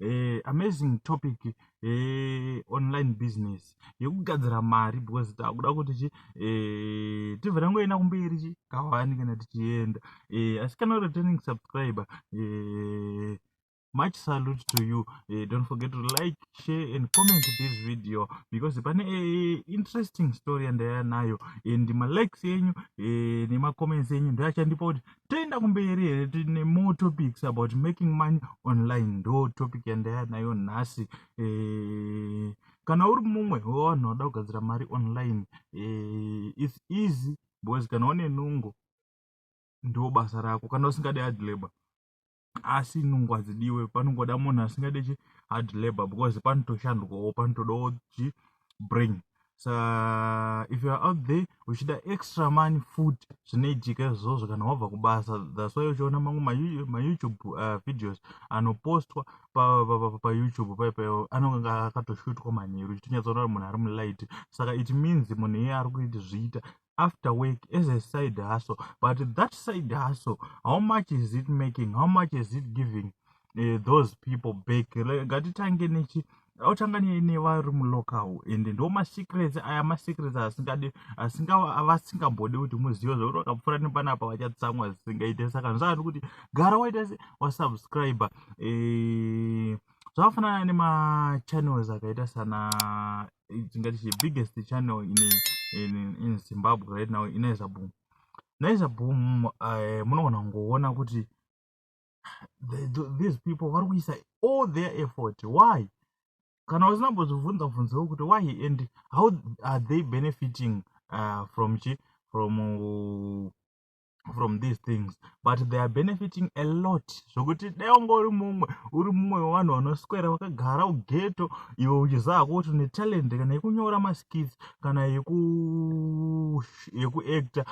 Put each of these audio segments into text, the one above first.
eh, amazing topic eh, online business yekugadzira mari because takuda kuti chi eh, tibva tangoenda kumberi chi kawani kana tichienda eh, asi kana returning subscriber eh, much salute to you uh, don't forget to like share and comment this video because pane uh, interesting story yandaya nayo and malikes enyu uh, nemacomments enyu ndoachandipa kuti toenda kumberi here tine more topics about making money online ndo topic yandaya nayo nhasi eh, kana uri mumwe wevanhu vada kugadzira mari online eh, its easy because kana une nungo ndo basa rako kana usingade hard labor asi nungu hadzidiwe panongoda munhu asingade chi hard labor because panotoshandwawo panotodawo chi brain sa if youare out there uchida extra money food zvinoitika izvozvo kana wabva kubasa thats why uchiona mamwe mayoutube uh, videos anopostwa payoutube pa, pa, pa, pa, anonge akatoshutwa manheru uchitonyatsoona kuti munhu ari mulight saka it means munhu iye ari kuiti zviita after work as a side hustle but that side hustle how much is it making how much is it giving uh, those people back ngatitange nechi otanga nevari mulocal and ndo masecrets aya masecrets asingade vasingambode kuti muzive zvekuti vakapfuura nepanapa vachatsamwa zvisingaite saka ndozvati kuti gara waita se wasubscribe eh, zvakafanana nemachannels akaita sana tingati the biggest channel in, in, in zimbabwe right now inaiza boom naiza boom uh, eh, munogona kungoona kuti the, the, these people vari kuisa all their effort why kana usina mbozvibvunza bvunzewo kuti why and how are they benefiting uh, from chi from uh, from these things but they are benefiting a lot zvokuti dai wanga uri mumwe uri mumwe wevanhu vanoswera vakagara ugeto iwe uchiziva ko kuti une talent kana yekunyora maskits kana yekuacta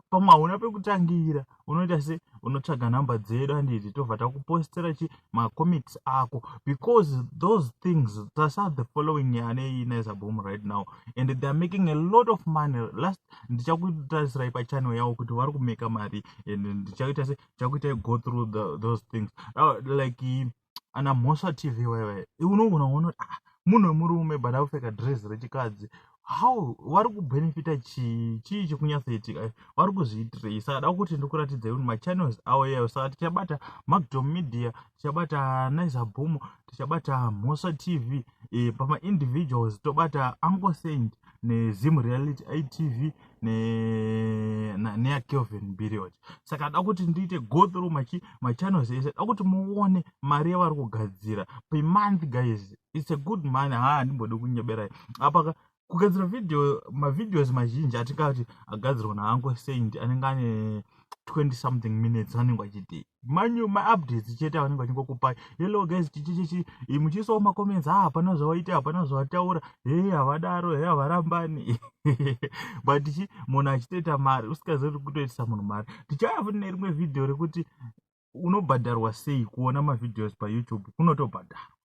pamwe hauna pekutangira unoita se unotsvaga number dzedu anditi tobva takupostera chi macomics ako because those things tasa the following yanei naisa boom right now and theyare making a lot of money last ndichakutarisirai pachannel yavo kuti vari kumeka mari and ndichaita se chakuitai go through the, those things uh, like ana mhosva tv waiwai unogona kuona ah, munhu wemurume but akupfeka dress rechikadzi how vari kubenefita chii chii chikunyatsoitika eh, vari kuzviitirei saka da kuti ndikuratidzai kuti machannels awo iyayo saka tichabata magdom media tichabata nice boom tichabata mhosa tv e, pamaindividuals tobata uncle saint nezim reality itv neya kelvin biriot saka da kuti ndiite go through machi machannels ese da kuti muone mari yavari kugadzira pemonth guys its a good money ha handimbode kunyeberai apaka kugadzira video mavideos mazhinji atingati agadzirwa naanko saint anenge ane 20 something minutes anenge achidii manyu maupdates chete avanenge vachingokupai hello guys chichichichi muchiisawo macomments ha ah, hapana zvawaita hapana zvawataura hei havadaro hei havarambani but chi munhu achitoita mari usikazivi ri kutoitisa munhu mari tichaya futi nerimwe vhidhiyo rekuti unobhadharwa sei kuona mavhidhios payoutube kunotobhadharwa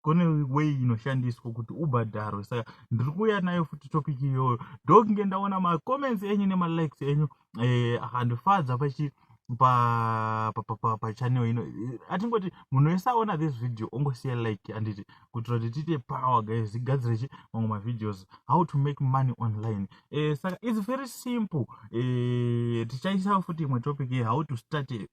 kune way inoshandiswa kuti ubhadharwe saka ndiri kuuya nayo futi topic iyoyo ndokunge ndaona macomments enyu nemalikes enyu eh, akandifadza eh, pachi pachannel ino atingoti munhu wese aona this video ongosiya like anditi kuitira kuti tiite power guys zigadzirechi mamwe mavideos how to make money online eh, saka its very simple eh, tichaisa futi imwe topic ye how to start a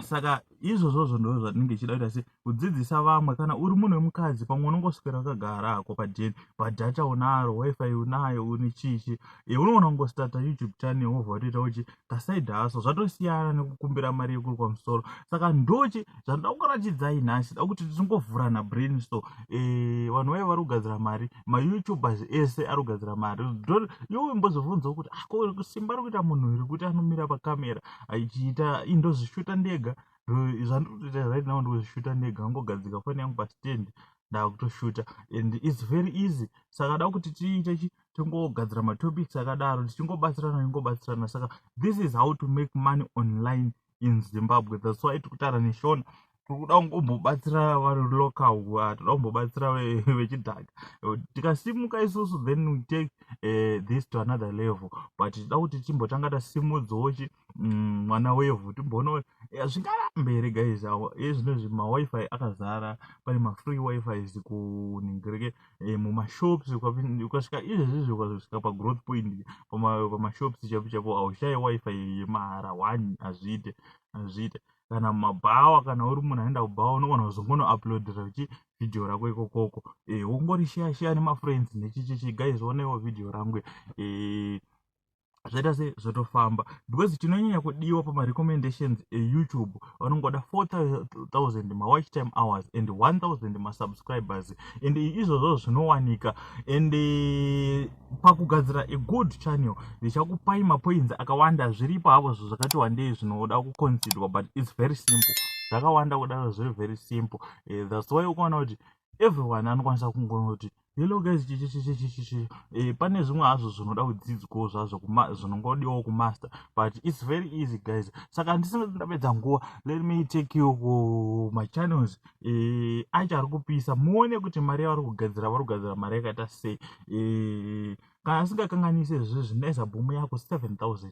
saka izvozvozvo ndo zvandinenge chida kuita se kudzidzisa vamwe kana uri munhu wemukadzi pamwe unongoswera wakagara hako pajeni bhadhata unaro wifi unayo une chichi e unoona kungostata youtube channel wobva watoita uchi kasaid haso zvatosiyana nekukumbira mari yekuri kwamusoro saka ndochi zvandoda kukuratidzai nhasi da kuti tisingovhurana brain so e eh, vanhu vaye vari kugadzira mari mayoutubers ese ari kugadzira mari ndo iwe mbozovhunzawo kuti ako ah, simba ri kuita munhu here kuti anomira pakamera achiita ii ndozvishuta ndega zvandikutoita right now ndikuzvishuta ndega angogadzika foni yangu pastand ndakutoshuta and its very easy saka da kuti tiite chi tingogadzira matopics akadaro tichingobatsirana ingobatsirana saka this is how to make money online in zimbabwe thats why tikutaura neshona tikuda kumbobatsira vari local tikuda kumbobatsira vechidhaka tikasimuka isusu then we take uh, this to another level but tida kuti timbotanga tasimudzawo chi mm, mwana mm, wevhu timboona eh, zvingarambe here guys awa e zvinezvi mawifi akazara pane mafree wifis kuningirike e, eh, mumashops ukasvika izvezvizvi ukasvika pagrowth point pamashops chapo chapo aushaye wifi yemahara one hazviite hazviite kana mumabhawa kana uri munhu anoenda kubhawa unogona kuzongono uploadera chi video rako ikokoko e, eh, ungori share share nemafriends nechichichi guys onewo video rangu e, zvaita se zvotofamba because chinonyanya kudiwa pamarecommendations eyoutube vanongoda 4000 mawatch time hours and 1000 masubscribers and izvozvo zvinowanika and pakugadzira a good channel ndichakupai mapoints akawanda zviripo havo zvo zvakati wandei zvinoda kuconsidwa but its very simple zvakawanda kudaro zviri very simple eh, thats why ukaona kuti everyone anokwanisa kungoona kuti hello guys chichichichichichi eh, pane zvimwe hazvo zvinoda kudzidzwawo zvazvo zvinongodiwawo kumaster but its very easy guys saka ndisingati ndapedza nguva let me take you kumachannels ku e, acho ari kupisa muone kuti mari yavari kugadzira vari kugadzira mari yakaita sei e, kana asingakanganise zvi zvinoisa bhumu yako 7000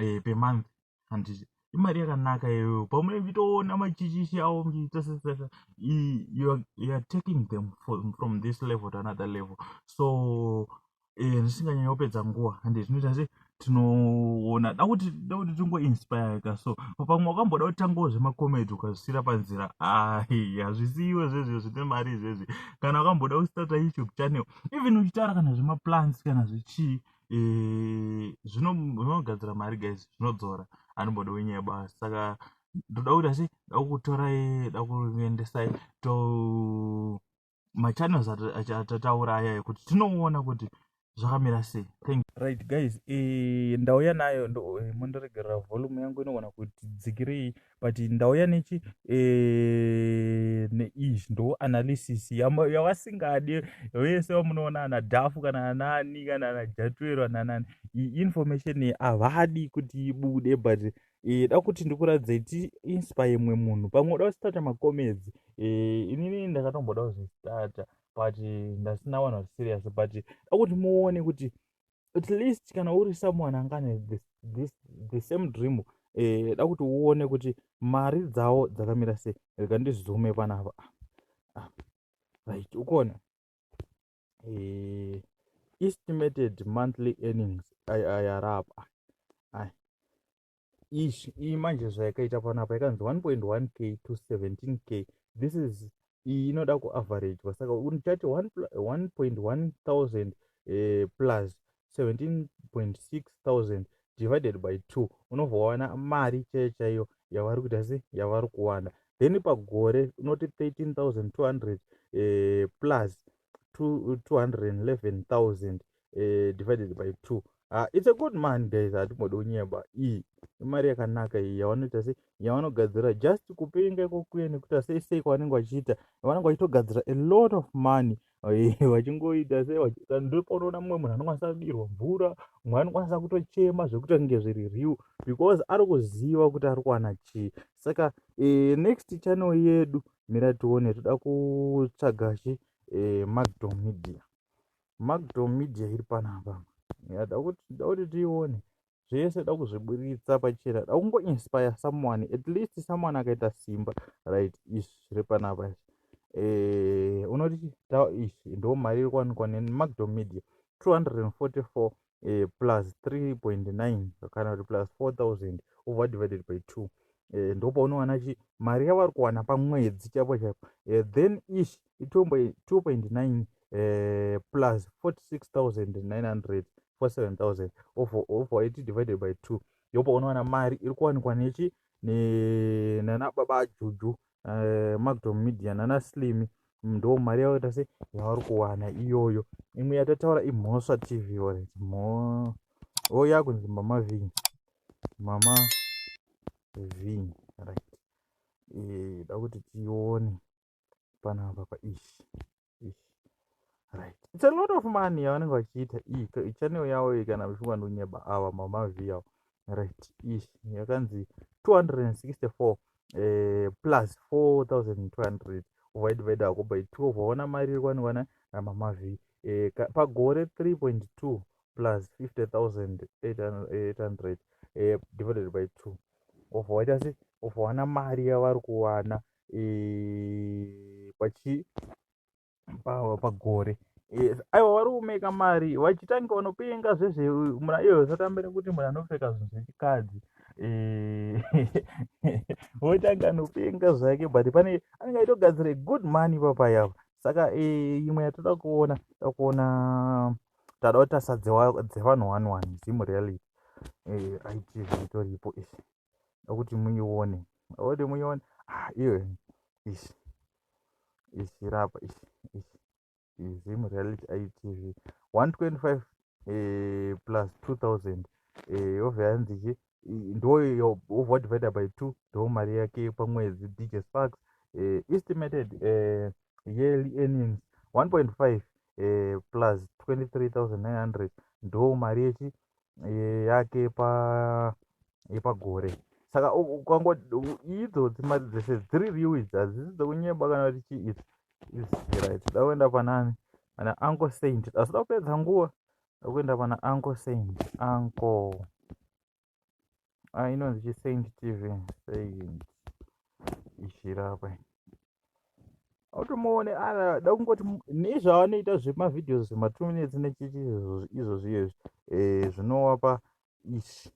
e, pemonth handiti imari yakanaka iyoyo pamune vitoona machichichi avo mbitasesesa youare taking them from this level to another level so eh, zvisinganyanya kupedza nguva and zvinoita se tinoona da kuti da kuti tingoinspireka so pamwe wakamboda kutangawo zvemacomedy ukazvisiira panzira ai hazvisi iwe zvezvi zvine mari izvezvi kana wakamboda kustarta youtube channel even uchitaura kana zvemaplans kana zvichii eh, zvinogadzira mari guys zvinodzora anomboda wenyaya basi saka ndoda kuti asi dakutorai dakuendesai to machannels atataura aya yekuti tinoona kuti zvakamira sei thank you right guys eh, ndauya nayo eh, mondiregerera volume yangu inogona kuti dzikirei but ndauya nechi eh, neizvi ndo analysis yavasingadi vese vamunoona ana dhafu kana anani kana ana jatwero ananani information havadi kuti ibude but eh, da kuti ndikuradzei tiinspa imwe munhu pamwe uda kustarta macomedzi eh, inini ndakatomboda kuzvistarta but ndasina wanhu vari serious but da kuti muone kuti at least kana uri someone angane this, this, the same dream eh, da kuti uone kuti mari dzawo dzakamira sei rega ndizume panapa ah, right ukuona eh, estimated monthly earnings ayarapa ai ish iyi manje zvayakaita panapa yakanzi 1.1 k to 17 k this is iyi inoda kuaveragwa saka uchati 1.1 thousand eh, plus 17.6 thousand divided by two unobva wawana mari chaiyo chaiyo yavari kuita se yavari kuwana then pagore unoti 13 thousand 200 eh, plus 211 thousand eh, divided by two uh, it's a good man guys hatimbode unyeba iyi imari yakanaka iyi yavanoita se yavanogadzira just kupenga ikokuye nekuita sei sei kwavanenge vachiita vanenge vachitogadzira a lot of money vachingoita se ndopaunoona mumwe munhu anokwanisa kudirwa mvura mumwe anokwanisa kutochema zvekuti kunge zviri real because ari kuziva kuti ari kuwana chii saka e, next channel yedu mira tione toda kutsvaga chi e, eh, magdom media magdom media iri panapa yada kuti tione zvese da kuzviburitsa pachena da kungoinspire someone at least someone akaita simba right izvi zviri panapa izvi eh, unoti ta izvi ndo mari iri kuwanikwa nemacdo media 244 eh, plus 3.9 kana kuti plus 4000 over divided by 2 eh, ndo paunowana chi mari yavari kuwana pamwedzi chaipo chaipo eh, then ish 2.9 eh, plus 46900 for 7000 over over it divided by 2 yopa unowana mari iri kuwanikwa nechi ne nana baba juju uh, eh, magdom media nana slim ndo mari yavo tase yavari kuwana iyoyo imwe yatataura imhosva tv oret mo o yakunzi mama vin mama vin right eh, da kuti tione panapa paishi right it's a lot of money yavanenge vachiita iyi channel yavo iyi kana vachingwa nonyeba ava mama viyavo right ish yakanzi 264 eh, plus 4200 uvaidivide ako by 12 waona mari iri kwanikwana namama v eh, pagore 3.2 plus 50800 eh, divided by 2 of waita se of wana mari yavari kuwana eh, pachi pagore aiwa vari kumeka mari vachitanga vanopenga zvezvemuna iyoyo zvatambira kuti munhu anopfeka zvinhu zvechikadzi eh, votanga anopenga zvake but pane anenge aitogadzira good money ipapa yavo saka eh, imwe yatoda kuona toda kuona tada kutasa dzevanhu one one zimu reality eh, itv itoripo izvi akuti muione akuti muione ah iwe ish ish rapa ish ish zim reality itv 125 eh, plus 2000 eh, yobva yanzi chi ndoyo wobva divided by two ndo mari yake pamwedzi dj sparks eh, estimated eh, yearly earnings 1.5 eh, plus 23900 ndo mari yechi eh, yake yepa yepagore saka ukango idzodzi mari dzese dziri riu idzi hadzisi dzekunyeba kana kuti chii idzi iziright da kuenda panani ana anko saint asida kupedza nguva akuenda pana anko saint anko ah inonzi chi saint tv saint ishirapa automuone ara da kungoti nezvaanoita zvemavideos zvema two minutes nechichi izvo zviye eh, zvinowapa ish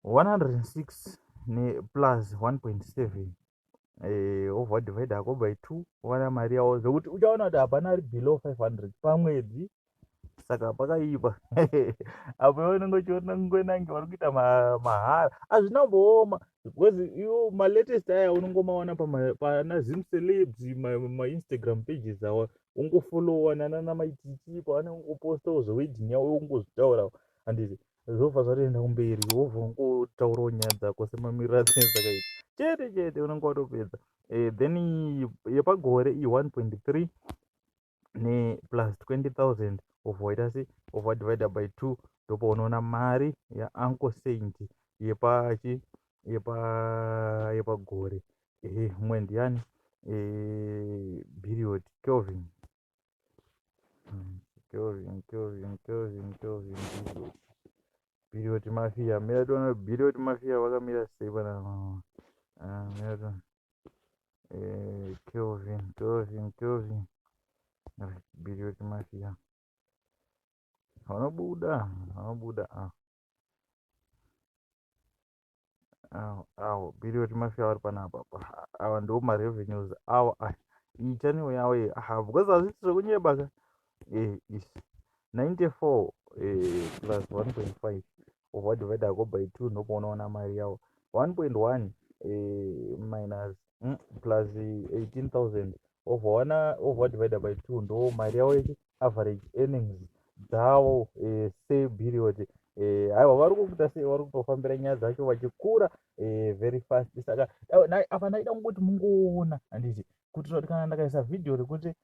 106 ne plus 1.7 eh, over divide hako by two owana mari yawo zvekuti uchaona kuti hapana ari below 500 pamwedzi saka pakaipa apo iwe unenge uchiona kungoenange vari kuita mahara hazvina kumbooma because iwo malatest aya unongomawana pana zim celebs mainstagram pages awa ungofollowa nanana maitichi paanenge ungopostawo zvewedding yawo ungozvitaurawo handiti zvobva zvatoenda kumberi wobva ungotaurawo nyaya dzako semamiriro adzine dzakaita chete chete unenge watopedza eh, then yepagore i 1.3 neplus 20000 obva waita se obva divider by 2 ndopa unoona mari yaanko saint yepachi yepa yepagore ehe mumwe ndiyani eh, biriot kelvin Birioti mafia mira tiona Birioti mafia vakamira sei pana ah, mira tiona eh, Kelvin Kelvin Kelvin Birioti mafia vanobuda vanobuda ah awo biri kuti mafia vari panapa awa ndiwo marevenues awo aya iyi channel yawo iyi aha because hazviti zvekunyeba ka eh is 94 eh plus 1.5 ovadivida ko by 2 ndopo unoona mari yawo 1.1 eh minus mm, plus 18000 of one of what divided by two ndo mari yavo yechi average earnings dzavo eh, se period eh, aiwa vari kukuita sei vari kutofambira nyaya dzacho vachikura eh, very fast saka apa ndaida kungoti mungoona handiti kuitira kuti kana ndakaisa vhidhiyo rekuti